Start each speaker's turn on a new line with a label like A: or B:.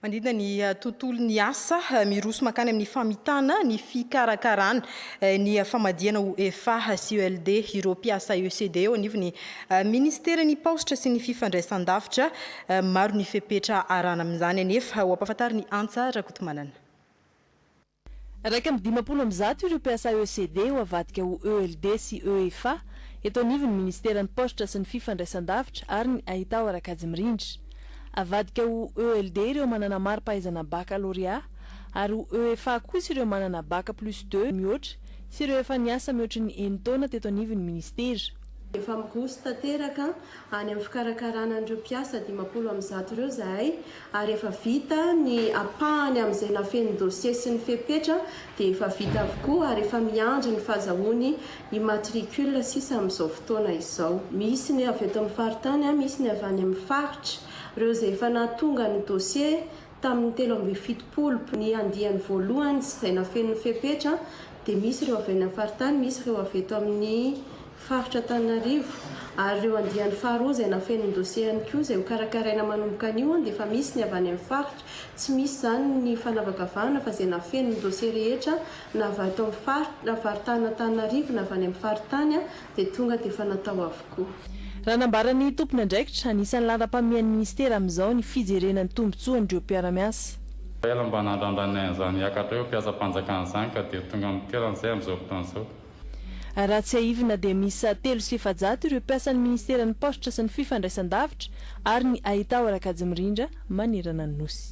A: Manidina ny tontolon'ny asa, miroso mankany amin'ny famitana ny fikarakarana ny famadihana ho efa sy ELD ireo mpiasa ECD eo anivon'ny Ministeran'ny Paositra sy ny Fifandraisandavitra. Maro ny fepetra arahana amin'izany anefa, ho ampahafantarin'i Antsa Rakotomanana.
B: Iraika amby dimampolo amby zato ireo mpiasa ECD ho avadika ho ELD sy EFA eto anivon'ny Ministeran'ny Paositra sy ny Fifandraisandavitra ary ny Haitao ara-kajimirindra. Avadika ho ELD ireo manana mari-pahaizana Bakalôrea ary ho EFA kosa ireo manana Bac plus deux mihoatra sy ireo efa niasa mihoatry ny enin-taona teto anivon'ny Ministera. Efa migoso
C: tanteraka any amin'ny fikarakarana an'ireo mpiasa dimampolo amby zato ireo izahay ary efa vita ny ampahany amin'izay nafehy ny dossier sy ny fepetra dia efa vita avokoa ary efa miandry ny fazahoany immatricule sisa amin'izao fotoana izao. Misy ny avy eto amin'ny faritany, misy ny avy any amin'ny faritra. Ireo izay efa nahatonga ny dossier tamin'ny telo amby fitopolo ny andiany voalohany sy izay nafehy ny fepetra dia misy ireo avy any amin'ny faritany, misy ireo avy eto amin'ny. Faritra Antananarivo, ary ireo andiany faharoa izay nafenin'ny dosie ihany koa izay ho karakaraina manomboka anio dia efa misy ny avy any amin'ny faritra, tsy misy izany ny fanavakavahana fa izay nafenin'ny dosie rehetra na avy ato amin'ny faritra na faritanin'Antananarivo na avy any amin'ny faritany dia tonga dia efa natao avokoa. Raha nambaran'ny
B: tompon'andraikitra, anisan'ny laharam-pahamehan'ny minisitera amin'izao ny fijerena ny tombontsoan'ireo mpiara-miasa. Ela mba
D: nandrandrainay an'izany hiakatra eo mpiasam-panjakana izany ka dia tonga mitoerana izay amin'izao fotoana izao. Raha
B: tsiahivina dia miisa telo sy efajato ireo mpiasan'ny Ministeran'ny Paositra sy ny Fifandraisan-davitra ary ny Haitao Rakajimirindra manerana ny Nosy.